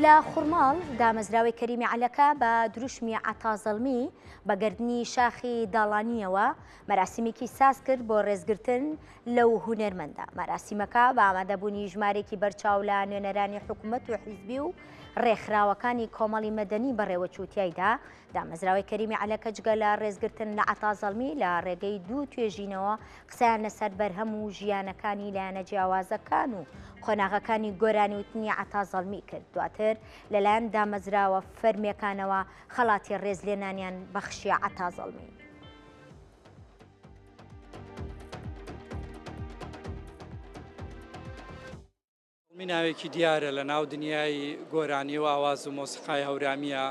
لە خورماڵ، دامەزراوەی کەریمی عەلەکە بە دروشمی عەتا زەڵمی بە گەردنی شاخی داڵانییەوە مەراسیمێکی ساز کرد بۆ ڕێزگرتن لەو هونەرمەندە. مەراسیمەکە بە ئامادەبوونی ژمارێکی بەرچاو لە نوێنەرانی حکومەت و حیزبی و ڕێکخراوەکانی کۆمەڵی مەدەنی بەڕێوەچوو تیایدا دامەزراوەی کەریمی عەلەکە جگە لە ڕێزگرتن لە عەتا زەڵمی لە ڕێگەی دوو توێژینەوە قسەیان لەسەر بەرهەم و ژیانەکانی لایەنە جیاوازەکان و قۆناغەکانی گۆرانی وتنی عەتا زەڵمی کرد دواتر لەلایەن دامەزراوە فەرمیەکانەوە خەڵاتی ڕێزلێنانیان بەخشیە عەتا زەڵمی. زەڵمی ناوێکی دیارە لە ناو دنیای گۆرانی و ئاواز و مۆسیقای هەورامییە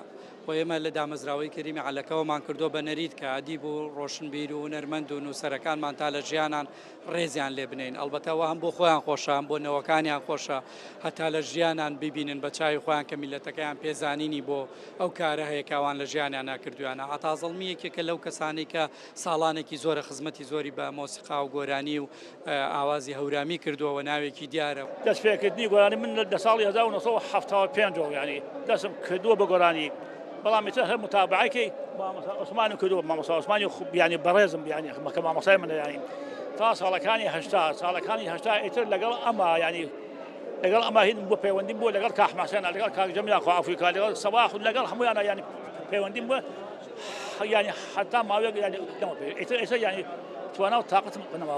و ئێمە لە دامەزراوەی کەریمی عەلەکەوەمان کردووە بە نەریت کە ئەدیب و ڕۆشنبیر و هونەرمەند و نووسەرەکانمان تا لە ژیانان ڕێزیان لێ بنێین ئەڵبەتە ئەوە هەم بۆ خۆیان خۆشە هەم بۆ نەوەکانیان خۆشە هەتا لە ژیانان ببینن بە چاوی خۆیان کە میللەتەکەیان پێزانینی بۆ ئەو کارە هەیە کە ئەوان لە ژیانیانا کردوویانە عەتا زەڵمی یەکێکە لەو کەسانەی کە ساڵانێکی زۆرە خزمەتی زۆری بە مۆسیقا و گۆرانی و ئاوازی هەورامی کردووە و ناوێکی دیارە. دەستپێکردنی گۆرانی من لە ساڵی هەزار و نۆ سەد و حەفتا و پێنج ەوە یانی دەستم کردووە بە گۆرانی، بەڵام ئیتر هەر متابەعەی مامۆستا عوسمانم کردووە، مامۆستا عوسمانی یانی بەڕێزم یانی کە مامۆستای منە یانی تا ساڵەکانی هەشتا، ساڵەکانی هەشتا ئیتر لەگەڵ ئەما یانی لەگەڵ ئەما هین بۆ پەیوەندیم بۆ لەگەڵ کاک حەسەنە لەگەڵ کاک جەمیلا خوا عەفوی کا لەگەڵ سەباح و لەگەڵ هەموویانە یانی پەیوەندیم بۆ یانی حەتا ماوەیەک یانی لەمە پێ ئیتر ئیتر یانی توانا و تاقەتم نەماوە